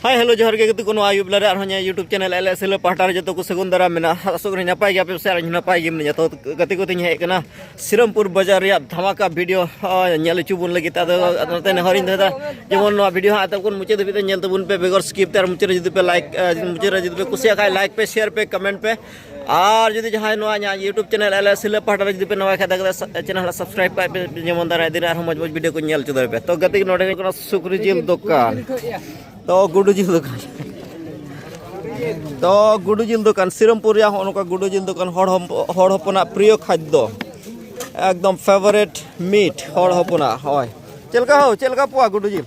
ᱦᱟᱭ hello ᱡᱚᱦᱟᱨ ᱜᱮ ᱜᱟᱛᱮ ᱠᱚ ᱱᱚᱣᱟ ᱟᱭᱩᱵ ᱞᱟᱨᱮ ᱟᱨᱦᱚᱸ ᱤᱧᱟᱹᱜ YouTube channel L S L ᱯᱟᱦᱴᱟ ᱨᱮ ᱡᱚᱛᱚ ᱠᱚ ᱥᱟᱹᱜᱩᱱ ᱫᱟᱨᱟᱢ ᱢᱮᱱᱟᱜᱼᱟ ᱟᱥᱚᱜ ᱠᱟᱹᱱᱟᱹᱧ ᱱᱟᱯᱟᱭ ᱜᱮᱭᱟ ᱯᱮ ᱥᱮ ᱟᱨ ᱱᱟᱯᱟᱭ ᱜᱮ ᱢᱮᱱᱟᱜᱼᱟ ᱡᱚᱛᱚ ᱜᱟᱛᱮ ᱠᱚᱛᱮᱧ ᱦᱮᱡ ᱟᱠᱟᱱᱟ ᱥᱤᱨᱟᱢᱯᱩᱨ ᱵᱟᱡᱟᱨ ᱨᱮᱭᱟᱜ ᱫᱷᱟᱢᱟᱠᱟ ᱵᱷᱤᱰᱤᱭᱳ ᱧᱮᱞ ᱦᱚᱪᱚ ᱵᱚᱱ ᱞᱟᱹᱜᱤᱫ ᱟᱫᱚ ᱱᱚᱛᱮ ᱱᱮᱦᱚᱨᱤᱧ ᱫᱚᱦᱚᱭᱮᱫᱟ ᱡᱮᱢᱚᱱ ᱱᱚᱣᱟ ᱵᱷᱤᱰᱤᱭᱳ ᱦᱟᱸᱜ ᱮᱛᱚᱦᱚᱵ ᱠᱷᱚᱱ ᱢᱩᱪᱟᱹᱫ ᱫᱷᱟᱹᱵᱤᱡ ᱛᱮ ᱧᱮᱞ ᱛᱟᱵᱚᱱ ᱯᱮ ᱵᱮᱜᱚᱨ ᱥᱠᱤᱯ ᱛᱮ ᱟᱨ ᱢᱩᱪᱟᱹᱫ ᱨᱮ ᱡᱩᱫᱤ ᱯᱮ ᱞᱟᱭᱤᱠ ᱢᱩᱪᱟᱹᱫ ᱨᱮ ᱡᱩᱫᱤ ᱯᱮ ᱠᱩᱥᱤᱭᱟᱜ ᱠᱷᱟᱡ ᱞᱟᱭᱤᱠ ᱯᱮ ᱥᱮᱭᱟᱨ ᱯᱮ ᱠᱚᱢᱮᱱᱴ ᱯᱮ ᱟᱨ ᱡᱩᱫᱤ ᱡᱟᱦᱟᱸᱭ ᱱᱚᱣᱟ ᱤᱧᱟᱹᱜ ᱤᱭᱩᱴᱩᱵᱽ ᱪᱮᱱᱮᱞ ᱮᱞ ᱮᱥ ᱦᱤᱞᱟᱹ ᱯᱟᱦᱴᱟ ᱨᱮ ᱡᱩᱫᱤ ᱯᱮ ᱱᱚᱣᱟ ᱠᱷᱟᱡ ᱫᱚ ᱪᱮᱱᱮᱞ ᱦᱚᱸ ᱥᱟᱵᱥᱠᱨᱟᱭᱤᱵ ᱠᱟᱜ ᱯᱮ ᱡᱮᱢᱚᱱ ᱫᱟᱨᱟᱭ ᱫᱤᱱ ᱟᱨᱦᱚᱸ ᱢᱚᱡᱽ ᱢᱚᱡᱽ ᱵᱷᱤᱰᱤᱭᱳ ᱠᱚ ᱧᱮᱞ ᱦᱚᱪᱚ ᱫᱟᱲᱮ ᱯᱮ ᱛᱚ ᱜᱟᱛᱮ ᱱᱚᱰᱮ ᱦᱩᱭᱩᱜ ᱠᱟᱱᱟ ᱥᱩᱠᱨᱤ ᱡᱤᱞ ᱫᱚᱠᱟᱱ ᱛᱚ ᱜᱩᱰᱩ ᱡᱤᱞ ᱫᱚᱠᱟᱱ ᱛᱚ ᱜᱩᱰᱩ ᱡᱤᱞ ᱫᱚᱠᱟᱱ ᱥᱤᱨᱚᱢᱯᱩᱨ ᱨᱮᱭᱟᱜ ᱦᱚᱸ ᱱᱚᱝᱠᱟ ᱜᱩᱰᱩ ᱡᱤᱞ ᱫᱚᱠᱟᱱ ᱦᱚᱲ ᱦᱚᱲ ᱦᱚᱯᱚᱱᱟᱜ ᱯᱨᱤᱭᱚ ᱠᱷᱟᱫᱽᱫᱚ ᱮᱠᱫᱚᱢ ᱯᱷᱮᱵᱟᱨᱮᱴ ᱢᱤᱴ ᱦᱚᱲ ᱦᱚᱯᱚᱱᱟᱜ ᱦᱳᱭ ᱪᱮᱫ ᱞᱮᱠᱟ ᱦᱳ ᱪᱮᱫ ᱞᱮᱠᱟ ᱯᱚᱣᱟ ᱜᱩᱰᱩ ᱡᱤᱞ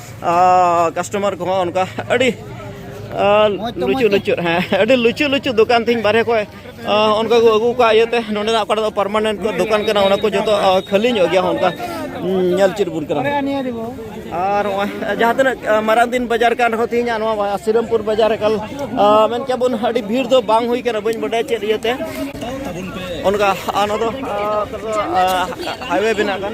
ᱠᱟᱥᱴᱚᱢᱟᱨ ᱠᱚᱦᱚᱸ ᱚᱱᱠᱟ ᱟᱹᱰᱤ ᱞᱩᱪᱩ ᱞᱩᱪᱩ ᱦᱮᱸ ᱟᱹᱰᱤ ᱞᱩᱪᱩ ᱞᱩᱪᱩ ᱫᱚᱠᱟᱱ ᱛᱤᱧ ᱵᱟᱨᱦᱮ ᱠᱷᱚᱡ ᱚᱱᱠᱟ ᱠᱚ ᱟᱹᱜᱩ ᱠᱟᱜ ᱤᱭᱟᱹᱛᱮ ᱱᱚᱰᱮᱱᱟᱜ ᱚᱠᱟᱴᱟᱜ ᱫᱚ ᱯᱟᱨᱢᱟᱱᱮᱱᱴ ᱫᱚᱠᱟᱱ ᱠᱟᱱᱟ ᱚᱱᱟ ᱠᱚ ᱡᱚᱛᱚ ᱠᱷᱟᱹᱞᱤ ᱧᱚᱜ ᱜᱮᱭᱟ ᱚᱱᱠᱟ ᱧᱮᱞ ᱪᱮᱫ ᱵᱚᱱ ᱠᱟᱱᱟ ᱟᱨ ᱱᱚᱜᱼᱚᱭ ᱡᱟᱦᱟᱸ ᱛᱤᱱᱟᱹᱜ ᱢᱟᱨᱟᱝ ᱫᱤᱱ ᱵᱟᱡᱟᱨ ᱠᱟᱱ ᱨᱮᱦᱚᱸ ᱛᱮᱦᱮᱧᱟᱜ ᱱᱚᱣᱟ ᱥᱤᱨᱟᱢᱯᱩᱨ ᱵᱟᱡᱟᱨ ᱮᱠᱟᱞ ᱢᱮᱱ ᱠᱮᱭᱟ ᱵᱚᱱ ᱟᱹᱰᱤ ᱵᱷᱤᱲ ᱫᱚ ᱵᱟᱝ ᱦᱩᱭ ᱠᱟᱱᱟ ᱵᱟᱹᱧ ᱵᱟᱰᱟᱭᱟ ᱪᱮᱫ ᱤᱭᱟᱹᱛᱮ ᱚᱱᱠᱟ ᱱᱚᱣᱟ ᱫᱚ ᱦᱟᱭᱣᱮ ᱵᱮᱱᱟᱜ ᱠᱟᱱ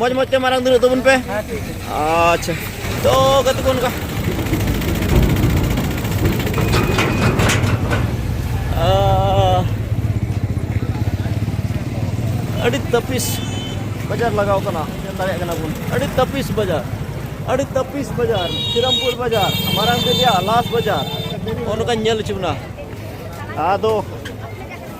ᱢᱚᱡᱽ ᱢᱚᱡᱽ ᱛᱮ ᱢᱟᱨᱟᱝ ᱫᱩᱲᱩᱵ ᱛᱟᱵᱚᱱ ᱯᱮ ᱟᱪᱪᱷᱟ ᱛᱚ ᱜᱟᱛᱮ ᱠᱚ ᱚᱱᱠᱟ ᱟᱹᱰᱤ ᱛᱟᱹᱯᱤᱥ ᱵᱟᱡᱟᱨ ᱞᱟᱜᱟᱣ ᱠᱟᱱᱟ ᱧᱮᱞ ᱫᱟᱲᱮᱭᱟᱜ ᱠᱟᱱᱟ ᱵᱚᱱ ᱟᱹᱰᱤ ᱛᱟᱹᱯᱤᱥ ᱵᱟᱡᱟᱨ ᱟᱹᱰᱤ ᱛᱟᱹᱯᱤᱥ ᱵᱟᱡᱟᱨ ᱥᱨᱤᱨᱟᱢᱯᱩᱨ ᱵᱟᱡᱟᱨ ᱢᱟᱨᱟᱝ ᱫᱮᱵᱤᱭᱟ ᱞᱟᱥ ᱵᱟᱡᱟᱨ ᱚᱱᱠᱟᱧ ᱧᱮᱞ ᱦᱚᱪᱚ ᱵᱚᱱᱟ ᱟᱫᱚ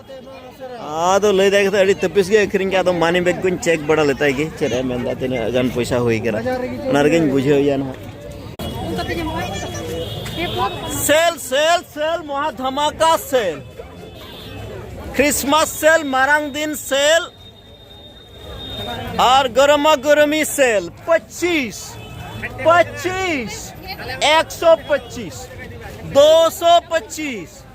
ᱟᱫᱚ ᱞᱟᱹᱭ ᱫᱟᱭ ᱠᱟᱛᱮ ᱟᱹᱰᱤ ᱛᱟᱹᱯᱤᱥ ᱜᱮ ᱟᱹᱠᱷᱨᱤᱧ ᱠᱮᱫᱟ ᱟᱫᱚ ᱢᱟᱱᱤ ᱵᱮᱜᱽ ᱠᱚᱧ ᱪᱮᱠ ᱵᱟᱲᱟ ᱞᱮᱛᱟᱭ ᱜᱮ ᱪᱮᱫ ᱮ ᱢᱮᱱᱫᱟ ᱛᱤᱱᱟᱹᱜ ᱜᱟᱱ ᱯᱚᱭᱥᱟ ᱦᱩᱭ ᱠᱟᱱᱟ ᱚᱱᱟ ᱨᱮᱜᱮᱧ ᱵᱩᱡᱷᱟᱹᱣᱮᱭᱟ ᱱᱟᱦᱟᱜ ᱥᱮᱞ ᱥᱮᱞ ᱥᱮᱞ ᱢᱚᱦᱟ ᱫᱷᱟᱢᱟᱠᱟ ᱥᱮᱞ ᱠᱷᱨᱤᱥᱢᱟᱥ ᱥᱮᱞ ᱢᱟᱨᱟᱝ ᱫᱤᱱ ᱥᱮᱞ ᱟᱨ ᱜᱚᱨᱢᱟ ᱜᱚᱨᱢᱤ ᱥᱮᱞ ᱯᱚᱸᱪᱤᱥ ᱯᱚᱸᱪᱤᱥ ᱮᱠᱥᱚ ᱯᱚᱸᱪᱤᱥ ᱫᱳ ᱥᱚ ᱯᱚᱸᱪᱤᱥ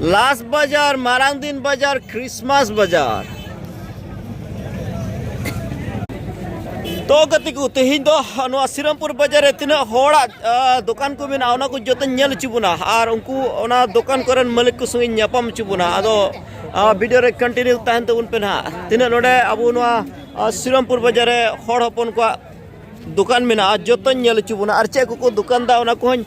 ᱞᱟᱥ ᱵᱟᱡᱟᱨ ᱢᱟᱨᱟᱝ ᱫᱤᱱ ᱵᱟᱡᱟᱨ ᱠᱨᱤᱥᱢᱟᱥ ᱵᱟᱡᱟᱨ ᱛᱚ ᱜᱟᱛᱮ ᱠᱚ ᱛᱮᱦᱮᱧ ᱫᱚ ᱱᱚᱣᱟ ᱥᱤᱨᱟᱢᱯᱩᱨ ᱵᱟᱡᱟᱨ ᱨᱮ ᱛᱤᱱᱟᱹᱜ ᱦᱚᱲᱟᱜ ᱫᱚᱠᱟᱱ ᱠᱚ ᱢᱮᱱᱟᱜᱼᱟ ᱚᱱᱟ ᱠᱚ ᱡᱚᱛᱚᱧ ᱧᱮᱞ ᱦᱚᱪᱚ ᱵᱚᱱᱟ ᱟᱨ ᱩᱱᱠᱩ ᱚᱱᱟ ᱫᱚᱠᱟᱱ ᱠᱚᱨᱮᱱ ᱢᱟᱹᱞᱤᱠ ᱠᱚ ᱥᱚᱸᱜᱮᱧ ᱧᱟᱯᱟᱢ ᱦᱚᱪᱚ ᱵᱚᱱᱟ ᱟᱫᱚ ᱵᱷᱤᱰᱤᱭᱳ ᱨᱮ ᱠᱚᱱᱴᱤᱱᱤᱭᱩ ᱛᱟᱦᱮᱱ ᱛᱟᱵᱚᱱ ᱯᱮ ᱱᱟᱦᱟᱜ ᱛᱤᱱᱟᱹᱜ ᱱᱚᱰᱮ ᱟᱵᱚ ᱱᱚᱣᱟ ᱥᱤᱨᱟᱢᱯᱩᱨ ᱵᱟᱡᱟᱨ ᱨᱮ ᱦᱚᱲ ᱦᱚᱯᱚᱱ ᱠᱚᱣᱟᱜ ᱫᱚᱠᱟᱱ ᱢᱮᱱᱟᱜᱼᱟ ᱡᱚᱛᱚᱧ ᱧᱮᱞ ᱦᱚᱪᱚ ᱵᱚᱱᱟ ᱟᱨ ᱪᱮᱫ ᱠᱚᱠᱚ ᱫᱚᱠᱟᱱᱫᱟ ᱚᱱᱟ ᱠᱚᱦᱚᱸᱧ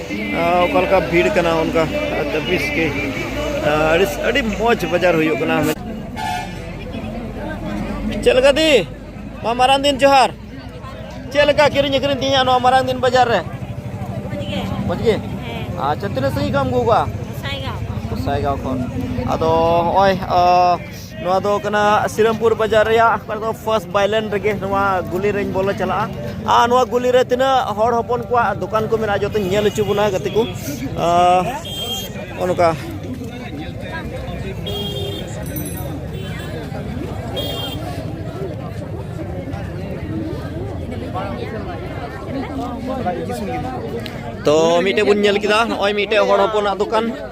ᱚᱠᱟ ᱞᱮᱠᱟ ᱵᱷᱤᱲ ᱠᱟᱱᱟ ᱚᱱᱠᱟ ᱪᱷᱟᱵᱵᱤᱥ ᱜᱮ ᱟᱹᱰᱤ ᱟᱹᱰᱤ ᱢᱚᱡᱽ ᱵᱟᱡᱟᱨ ᱦᱩᱭᱩᱜ ᱠᱟᱱᱟ ᱪᱮᱫ ᱞᱮᱠᱟ ᱫᱤ ᱢᱟ ᱢᱟᱨᱟᱝ ᱫᱤᱱ ᱡᱚᱦᱟᱨ ᱪᱮᱫ ᱞᱮᱠᱟ ᱠᱤᱨᱤᱧ ᱟᱹᱠᱷᱨᱤᱧ ᱛᱮᱦᱮᱧᱟᱜ ᱱᱚᱣᱟ ᱢᱟᱨᱟᱝ ᱫᱤᱱ ᱵᱟᱡᱟᱨ ᱨᱮ ᱢᱚᱡᱽ ᱜᱮ ᱟᱪᱪᱷᱟ ᱛᱤᱱᱟᱹᱜ ᱥᱟᱺᱜᱤᱧ ᱠᱷᱚᱱ ᱮᱢ ᱟᱹᱜᱩ ᱠᱟᱜᱼᱟ ᱜᱚᱥᱟᱭᱜᱟᱶ ᱠᱷᱚᱱ ᱟᱫᱚ ᱦᱚᱸᱜᱼᱚᱭ ᱱᱚᱣᱟ ᱫᱚ ᱠᱟᱱᱟ ᱥᱤᱨᱟᱢᱯᱩᱨ ᱵᱟᱡᱟᱨ ᱨᱮᱭᱟᱜ ᱚᱠᱟ ᱫᱚ ᱯᱷᱟᱥᱴ ᱵᱟᱭᱞᱮᱱ ᱨᱮᱜᱮ ᱱᱚᱣᱟ ᱜᱩᱞᱤ ᱨᱮᱧ ᱵᱚᱞᱚ ᱪᱟᱞᱟᱜᱼᱟ ᱟᱨ ᱱᱚᱣᱟ ᱜᱩᱞᱤ ᱨᱮ ᱛᱤᱱᱟᱹᱜ ᱦᱚᱲ ᱦᱚᱯᱚᱱ ᱠᱚᱣᱟᱜ ᱫᱚᱠᱟᱱ ᱠᱚ ᱢᱮᱱᱟᱜᱼᱟ ᱡᱚᱛᱚᱧ ᱧᱮᱞ ᱦᱚᱪᱚ ᱵᱚᱱᱟ ᱜᱟᱛᱮ ᱠᱚ ᱚᱱᱠᱟ ᱛᱚ ᱢᱤᱫᱴᱮᱡ ᱵᱚᱱ ᱧᱮᱞ ᱠᱮᱫᱟ ᱱᱚᱜᱼᱚᱭ ᱢᱤᱫᱴᱮᱡ ᱦᱚᱲ ᱦᱚᱯᱚᱱᱟᱜ ᱫᱚᱠᱟᱱ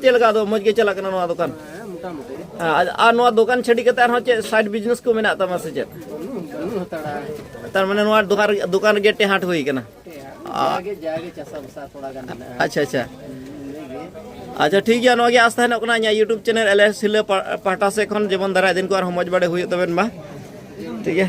ᱪᱮᱫ ᱞᱮᱠᱟ ᱟᱫᱚ ᱢᱚᱡᱽ ᱜᱮ ᱪᱟᱞᱟᱜ ᱠᱟᱱᱟ ᱱᱚᱣᱟ ᱫᱚᱠᱟᱱ ᱟᱨ ᱱᱚᱣᱟ ᱫᱚᱠᱟᱱ ᱪᱷᱟᱹᱰᱤ ᱠᱟᱛᱮ ᱟᱨᱦᱚᱸ ᱪᱮᱫ ᱥᱟᱭᱤᱰ ᱵᱤᱡᱽᱱᱮᱥ ᱠᱚ ᱢᱮᱱᱟᱜ ᱛᱟᱢᱟ ᱥᱮ ᱪᱮᱫ ᱛᱟᱨ ᱢᱟᱱᱮ ᱱᱚᱣᱟ ᱫᱚᱠᱟᱱ ᱫᱚᱠᱟᱱ ᱨᱮᱜᱮ ᱴᱮᱦᱟᱴ ᱦᱩᱭ ᱠᱟᱱᱟ ᱟᱪᱪᱷᱟ ᱟᱪᱪᱷᱟ ᱟᱪᱪᱷᱟ ᱴᱷᱤᱠ ᱜᱮᱭᱟ ᱱᱚᱣᱟ ᱜᱮ ᱟᱥᱛᱟ ᱦᱮᱱᱚᱜ ᱠᱟᱱᱟ ᱤᱧᱟᱹᱜ ᱤᱭᱩᱴᱩᱵᱽ ᱪᱮᱱᱮᱞ ᱮᱞ ᱮᱥ ᱥᱤᱞᱟᱹ ᱯᱟᱦᱴᱟ ᱥᱮᱫ ᱠᱷᱚᱱ ᱡᱮᱢᱚᱱ ᱫᱟᱨᱟᱭ ᱫᱤᱱ ᱠᱚ ᱟᱨᱦᱚᱸ ᱢᱚᱡᱽ ᱵᱟᱲᱮ ᱦᱩᱭᱩᱜ ᱛᱟᱵᱮᱱ ᱢᱟ ᱴᱷᱤᱠ ᱜᱮᱭᱟ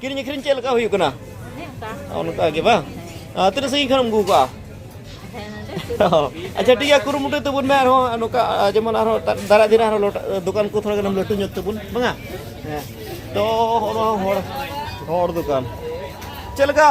ᱠᱤᱨᱤᱧ ᱟᱹᱠᱷᱨᱤᱧ ᱪᱮᱫ ᱞᱮᱠᱟ ᱦᱩᱭᱩᱜ ᱠᱟᱱᱟ ᱚᱱᱠᱟ ᱜᱮ ᱵᱟᱝ ᱛᱤᱱᱟᱹᱜ ᱥᱟᱺᱜᱤᱧ ᱠᱷᱚᱱᱮᱢ ᱟᱹᱜᱩ ᱠᱟᱜᱼᱟ ᱟᱪᱪᱷᱟ ᱴᱷᱤᱠ ᱜᱮᱭᱟ ᱠᱩᱨᱩᱢᱩᱴᱩᱭ ᱛᱟᱵᱚᱱ ᱢᱮ ᱟᱨᱦᱚᱸ ᱱᱚᱝᱠᱟ ᱡᱮᱢᱚᱱ ᱟᱨᱦᱚᱸ ᱫᱟᱨᱟᱭ ᱫᱤᱱ ᱟᱨᱦᱚᱸ ᱫᱚᱠᱟᱱ ᱠᱚ ᱛᱷᱚᱲᱟ ᱜᱟᱱᱮᱢ ᱞᱟᱹᱴᱩ ᱧᱚᱜ ᱛᱟᱵᱚᱱ ᱵᱟᱝᱟ ᱦᱮᱸ ᱛᱚ ᱦᱚᱲ ᱦᱚᱲ ᱫᱚᱠᱟᱱ ᱪᱮᱫ ᱞᱮᱠᱟ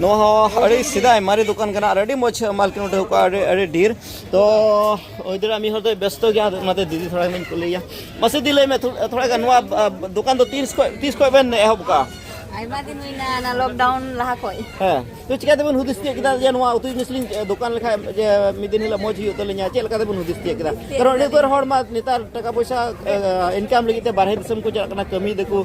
ᱱᱚᱣᱟ ᱦᱚᱸ ᱟᱹᱰᱤ ᱥᱮᱫᱟᱭ ᱢᱟᱨᱮ ᱫᱚᱠᱟᱱ ᱠᱟᱱᱟ ᱟᱨ ᱟᱹᱰᱤ ᱢᱚᱡᱽ ᱢᱟᱞᱠᱤᱱ ᱩᱴᱷᱟᱹᱣ ᱠᱚᱜᱼᱟ ᱟᱹᱰᱤ ᱟᱹᱰᱤ ᱰᱷᱮᱨ ᱛᱚ ᱦᱩᱭ ᱫᱟᱲᱮᱭᱟᱜᱼᱟ ᱢᱤᱫ ᱦᱚᱲ ᱫᱚᱭ ᱵᱮᱥᱛᱚ ᱜᱮᱭᱟ ᱚᱱᱟᱛᱮ ᱫᱤᱫᱤ ᱛᱷᱚᱲᱟ ᱜᱟᱱᱤᱧ ᱠᱩᱞᱤᱭᱟ ᱢᱟᱥᱮ ᱫᱤ ᱞᱟᱹᱭ ᱢᱮ ᱛᱷᱚᱲᱟ ᱜᱟᱱ ᱱᱚᱣᱟ ᱫᱚᱠᱟᱱ ᱫᱚ ᱛᱤᱥ ᱠᱷᱚᱡ ᱛᱤᱥ ᱠᱷᱚᱡ ᱵᱮᱱ ᱮᱦᱚᱵ ᱠᱟᱜᱼᱟ ᱟᱭᱢᱟ ᱫᱤᱱ ᱦᱩᱭᱱᱟ ᱚᱱᱟ ᱞᱚᱠᱰᱟᱣᱩᱱ ᱞᱟᱦᱟ ᱠᱷᱚᱡ ᱦᱮᱸ ᱛᱚ ᱪᱤᱠᱟᱹ ᱛᱮᱵᱚᱱ ᱦᱩᱫᱤᱥ ᱛᱤᱭᱟᱹᱜ ᱠᱮᱫᱟ ᱡᱮ ᱱᱚᱣᱟ ᱩᱛᱩ ᱡᱤᱱᱤᱥ ᱞᱤᱧ ᱫᱚᱠᱟᱱ ᱞᱮᱠᱷᱟᱡ ᱡᱮ ᱢᱤᱫ ᱫᱤᱱ ᱦᱤᱞᱳᱜ ᱢᱚᱡᱽ ᱦᱩᱭᱩᱜ ᱛᱟᱹᱞᱤᱧᱟ ᱪᱮᱫ ᱞᱮᱠᱟ ᱛᱮᱵᱚᱱ ᱦᱩᱫᱤᱥ ᱛᱤᱭᱟᱹᱜ ᱠᱮᱫᱟ ᱠᱟᱨᱚᱱ ᱟᱹᱰᱤ ᱩᱛᱟᱹᱨ ᱦᱚᱲ ᱢᱟ ᱱᱮᱛᱟᱨ ᱴᱟᱠᱟ ᱯᱚᱭᱥᱟ ᱤᱱᱠᱟᱢ ᱞᱟᱹᱜᱤᱫ ᱛᱮ ᱵᱟᱨᱦᱮ ᱫᱤᱥᱚᱢ ᱠᱚ ᱪᱟᱞᱟᱜ ᱠᱟᱱᱟ ᱠᱟᱹᱢᱤ ᱫᱟᱠᱚ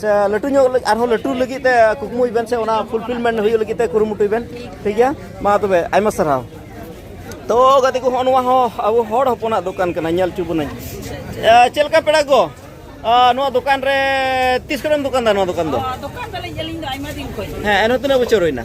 ᱥᱮ ᱞᱟᱹᱴᱩ ᱧᱚᱜ ᱟᱨᱦᱚᱸ ᱞᱟᱹᱴᱩ ᱞᱟᱹᱜᱤᱫ ᱛᱮ ᱠᱩᱠᱢᱩᱭ ᱵᱮᱱ ᱥᱮ ᱚᱱᱟ ᱯᱷᱩᱞᱯᱷᱤᱞᱢᱮᱱᱴ ᱦᱩᱭᱩᱜ ᱞᱟᱹᱜᱤᱫ ᱛᱮ ᱠᱩᱨᱩᱢᱩᱴᱩᱭ ᱵᱮᱱ ᱴᱷᱤᱠ ᱜᱮᱭᱟ ᱢᱟ ᱛᱚᱵᱮ ᱟᱭᱢᱟ ᱥᱟᱨᱦᱟᱣ ᱛᱚ ᱜᱟᱛᱮ ᱠᱚ ᱦᱚᱸ ᱱᱚᱣᱟ ᱦᱚᱸ ᱟᱵᱚ ᱦᱚᱲ ᱦᱚᱯᱚᱱᱟᱜ ᱫᱚᱠᱟᱱ ᱠᱟᱱᱟ ᱧᱮᱞ ᱦᱚᱪᱚ ᱵᱚᱱᱟᱹᱧ ᱪᱮᱫ ᱞᱮᱠᱟ ᱯᱮᱲᱟ ᱠᱚ ᱱᱚᱣᱟ ᱫᱚᱠᱟᱱ ᱨᱮ ᱛᱤᱥ ᱠᱷᱚᱱᱮᱢ ᱫᱚᱠᱟᱱ ᱫᱟ ᱱᱚᱣᱟ ᱫᱚᱠᱟᱱ ᱫᱚ ᱫᱚᱠᱟᱱ ᱫᱟᱞᱤᱧ ᱟᱹᱞᱤᱧ ᱫᱚ ᱟᱭᱢᱟ ᱫᱤᱱ ᱠᱷᱚᱱ ᱦᱮᱸ ᱮᱱᱦᱚᱸ ᱛᱤᱱᱟᱹᱜ ᱵᱚᱪᱷᱚᱨ ᱦᱩᱭᱱᱟ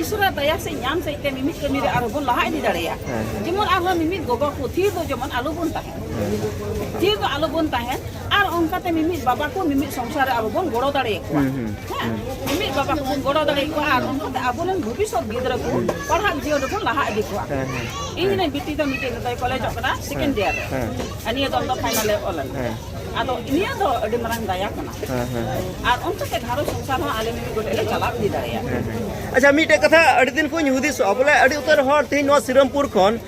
ᱤᱥᱚᱨᱟᱜ ᱫᱟᱭᱟ ᱥᱮ ᱧᱟᱢ ᱥᱮᱡ ᱛᱮ ᱢᱤᱢᱤᱫ ᱠᱟᱹᱢᱤ ᱨᱮ ᱟᱨᱦᱚᱸ ᱵᱚᱱ ᱞᱟᱦᱟ ᱤᱫᱤ ᱫᱟᱲᱮᱭᱟᱜᱼᱟ ᱡᱮᱢᱚᱱ ᱟᱨᱦᱚᱸ ᱢᱤᱢᱤᱫ ᱜᱚᱜᱚ ᱠᱚ ᱛᱷᱤᱨ ᱫᱚ ᱡᱮᱢᱚᱱ ᱟᱞᱚ ᱵᱚᱱ ᱛᱟᱦᱮᱱ ᱛᱷᱤᱨ ᱫᱚ ᱟᱞᱚ ᱵᱚᱱ ᱛᱟᱦᱮᱱ ᱟᱨ ᱚᱱᱠᱟᱛᱮ ᱢᱤᱢᱤᱫ ᱵᱟᱵᱟ ᱠᱚ ᱢᱤᱢᱤᱫ ᱥᱚᱝᱥᱟᱨ ᱨᱮ ᱟᱵᱚ ᱵᱚᱱ ᱜᱚᱲᱚ ᱫᱟᱲᱮ ᱟᱠᱚᱣᱟ ᱦᱮᱸ ᱢᱤᱢᱤᱫ ᱵᱟᱵᱟ ᱠᱚ ᱵᱚᱱ ᱜᱚᱲᱚ ᱫᱟᱲᱮ ᱟᱠᱚᱣᱟ ᱟᱨ ᱚᱱᱠᱟᱛᱮ ᱟᱵᱚ ᱨᱮᱱ ᱵᱷᱚᱵᱤᱥᱚᱛ ᱜᱤᱫᱽᱨᱟᱹ ᱠᱚ ᱯᱟᱲᱦᱟᱜ ᱡᱤᱭᱚᱱ ᱨᱮᱵᱚᱱ ᱞᱟᱦᱟ ᱤᱫᱤ ᱠᱚᱣᱟ ᱤᱧ ᱨᱮᱱ ᱵᱤᱴᱤ ᱫᱚ ᱢᱤᱫᱴᱮᱡ ᱱᱤᱛᱚᱜ ᱠᱚᱞᱮᱡᱚᱜ ᱠᱟᱱᱟ ᱥᱮᱠᱮᱱᱰ ᱤᱭᱟᱨ ᱨᱮ ᱟᱨ ᱱᱤᱭᱟᱹ ᱫᱚᱢ ᱫᱚ ᱯᱷᱟᱭᱱᱟᱞ ᱮ ᱚᱞ ᱞᱮᱱᱟ ᱟᱫᱚ ᱱᱤᱭᱟᱹ ᱫᱚ ᱟᱹᱰᱤ ᱢᱟᱨᱟᱝ ᱫᱟᱭᱟ ᱠᱟᱱᱟ ᱟᱨ ᱚᱱᱛᱮ ᱛᱮ ᱜᱷᱟᱨᱚᱸᱡᱽ ᱥᱚᱝᱥᱟᱨ ᱦᱚᱸ ᱟᱞᱮ ᱢᱤᱢᱤᱫ ᱜᱚᱴᱮᱡ ᱞᱮ ᱪᱟᱞᱟᱣ ᱤᱫᱤ ᱫᱟᱲᱮᱭᱟᱜᱼᱟ ᱟᱪᱪᱷᱟ ᱢᱤᱫᱴᱮᱡ ᱠᱟᱛᱷᱟ ᱟᱹᱰᱤ ᱫᱤᱱ ᱠᱷᱚᱱ ᱦᱩᱫᱤᱥᱚᱜᱼᱟ ᱵᱚᱞᱮ ᱟᱹᱰᱤ ᱩᱛᱟᱹᱨ ᱦᱚᱲ ᱛᱮᱦᱮᱧ ᱱᱚᱣᱟ ᱥᱤᱨᱟᱢᱯᱩᱨ ᱠᱷᱚᱱ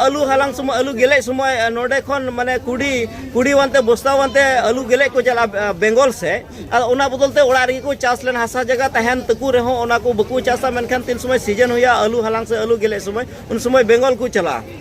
ᱟᱹᱞᱩ ᱦᱟᱞᱟᱝ ᱥᱚᱢᱚᱭ ᱟᱹᱞᱩ ᱜᱮᱞᱮᱡ ᱥᱚᱢᱚᱭ ᱱᱚᱰᱮ ᱠᱷᱚᱱ ᱢᱟᱱᱮ ᱠᱩᱰᱤ ᱠᱩᱰᱤ ᱣᱟᱱᱛᱮ ᱵᱚᱥᱛᱟ ᱣᱟᱱᱛᱮ ᱟᱹᱞᱩ ᱜᱮᱞᱮᱡ ᱠᱚ ᱪᱟᱞᱟᱜᱼᱟ ᱵᱮᱝᱜᱚᱞ ᱥᱮ ᱟᱨ ᱚᱱᱟ ᱵᱚᱫᱚᱞ ᱛᱮ ᱚᱲᱟᱜ ᱨᱮᱜᱮ ᱠᱚ ᱪᱟᱥ ᱞᱮᱱ ᱦᱟᱥᱟ ᱡᱟᱭᱜᱟ ᱛᱟᱦᱮᱱ ᱛᱟᱠᱚ ᱨᱮᱦᱚᱸ ᱚᱱᱟ ᱠᱚ ᱵᱟᱠᱚ ᱪᱟᱥᱟ ᱢᱮᱱᱠᱷᱟᱱ ᱛᱤᱱ ᱥᱚᱢᱚᱭ ᱥᱤᱡᱚᱱ ᱦᱩᱭᱩᱜᱼᱟ ᱟᱹᱞᱩ ᱦᱟᱞᱟᱝ ᱥᱮ ᱟᱹᱞᱩ ᱜᱮᱞᱮᱡ ᱥᱚᱢᱚᱭ ᱩᱱ ᱥᱚᱢᱚᱭ ᱵᱮᱝᱜᱚᱞ ᱠᱚ ᱪᱟᱞᱟᱜᱼᱟ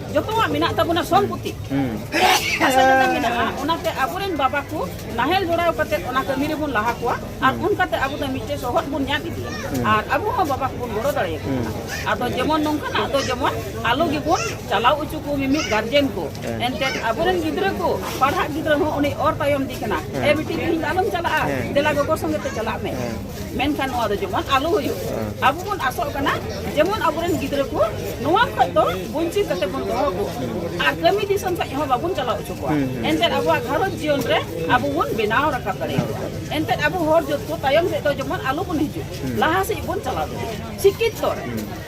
ᱡᱚᱛᱚᱣᱟᱜ ᱢᱮᱱᱟᱜ ᱛᱟᱵᱚᱱᱟ ᱥᱚᱢᱯᱚᱛᱤ ᱦᱟᱥᱟ ᱡᱟᱭᱜᱟ ᱢᱮᱱᱟᱜᱼᱟ ᱚᱱᱟᱛᱮ ᱟᱵᱚᱨᱮᱱ ᱵᱟᱵᱟ ᱠᱚ ᱱᱟᱦᱮᱞ ᱡᱚᱲᱟᱣ ᱠᱟᱛᱮ ᱚᱱᱟ ᱠᱟᱹᱢᱤ ᱨᱮᱵᱚᱱ ᱞᱟᱦᱟ ᱠᱚᱣᱟ ᱟᱨ ᱚᱱᱠᱟᱛᱮ ᱟᱵᱚ ᱫᱚ ᱢᱤᱫᱴᱮᱡ ᱥᱚᱦᱚᱫ ᱵᱚᱱ ᱧᱟᱢ ᱤᱫᱤᱭᱟ ᱟᱨ ᱟᱵᱚ ᱦᱚᱸ ᱵᱟᱵᱟ ᱠᱚᱵᱚᱱ ᱜᱚᱲᱚ ᱫᱟᱲᱮᱭᱟᱠᱚ ᱠᱟᱱᱟ ᱟᱫᱚ ᱡᱮᱢᱚᱱ ᱱᱚᱝᱠᱟᱱᱟᱜ ᱫᱚ ᱡᱮᱢᱚᱱ ᱟᱞᱚ ᱜᱮᱵᱚᱱ ᱪᱟᱞᱟᱣ ᱦᱚᱪᱚ ᱠᱚ ᱢᱤᱢᱤᱫ ᱜᱟᱨᱡᱮᱱ ᱠᱚ ᱮᱱᱛᱮ ᱟᱵᱚᱨᱮᱱ ᱜᱤᱫᱽᱨᱟᱹ ᱠᱚ ᱯᱟᱲᱦᱟᱜ ᱜᱤᱫᱽᱨᱟᱹ ᱦᱚᱸ ᱩᱱᱤ ᱚᱨ ᱛᱟᱭᱚᱢ ᱫᱤ ᱠᱟᱱᱟ ᱮ ᱵᱤᱴᱤ ᱛᱮᱦᱮᱧ ᱟᱞᱚᱢ ᱪᱟᱞᱟᱜᱼᱟ ᱫᱮᱞᱟ ᱜᱚᱜᱚ ᱥᱚᱸᱜᱮ ᱛᱮ ᱪᱟᱞᱟᱜ ᱢᱮ ᱢᱮᱱᱠᱷᱟᱱ ᱱᱚᱣᱟ ᱫᱚ ᱡᱮᱢᱚᱱ ᱟᱞᱚ ᱦᱩᱭᱩᱜ ᱟᱵᱚ ᱵᱚᱱ ᱟᱥᱚᱜ ᱠᱟᱱᱟ ᱡᱮᱢᱚᱱ ᱟᱵᱚᱨᱮᱱ ᱜᱤᱫᱽᱨᱟᱹ ᱠᱚ ᱱᱚᱣᱟ ᱠᱷᱚᱡ ᱫᱚ ᱵᱚᱧᱪᱤᱛ ᱠᱟᱛᱮ ᱵᱚᱱ ᱫᱚᱦᱚ ᱠᱚ ᱟᱨ ᱠᱟᱹᱢᱤ ᱫᱤᱥᱚᱢ ᱥᱮᱫ ᱦᱚᱸ ᱵᱟᱵᱚᱱ ᱪᱟᱞᱟᱣ ᱦᱚᱪᱚ ᱠᱚᱣᱟ ᱮᱱᱛᱮ ᱟᱵᱚᱣᱟᱜ ᱜᱷᱟᱨᱚᱸᱡᱽ ᱡᱤᱭᱚᱱ ᱨᱮ ᱟᱵᱚ ᱵᱚᱱ ᱵᱮᱱᱟᱣ ᱨᱟᱠᱟᱵ ᱫᱟᱲᱮᱭᱟᱜᱼᱟ ᱮᱱᱛᱮ ᱟᱵᱚ ᱦᱚᱲ ᱡᱚᱛᱚ ᱛᱟᱭᱚᱢ ᱥᱮᱫ ᱫᱚ ᱡᱮᱢᱚᱱ ᱟᱞᱚ ᱵᱚᱱ ᱦᱤᱡᱩᱜ ᱞᱟᱦᱟ ᱥᱮᱫ ᱵᱚᱱ ᱪᱟᱞᱟᱣ ᱫᱟᱲᱮᱭᱟᱜᱼᱟ ᱥᱤᱠᱠᱷᱤᱛᱚ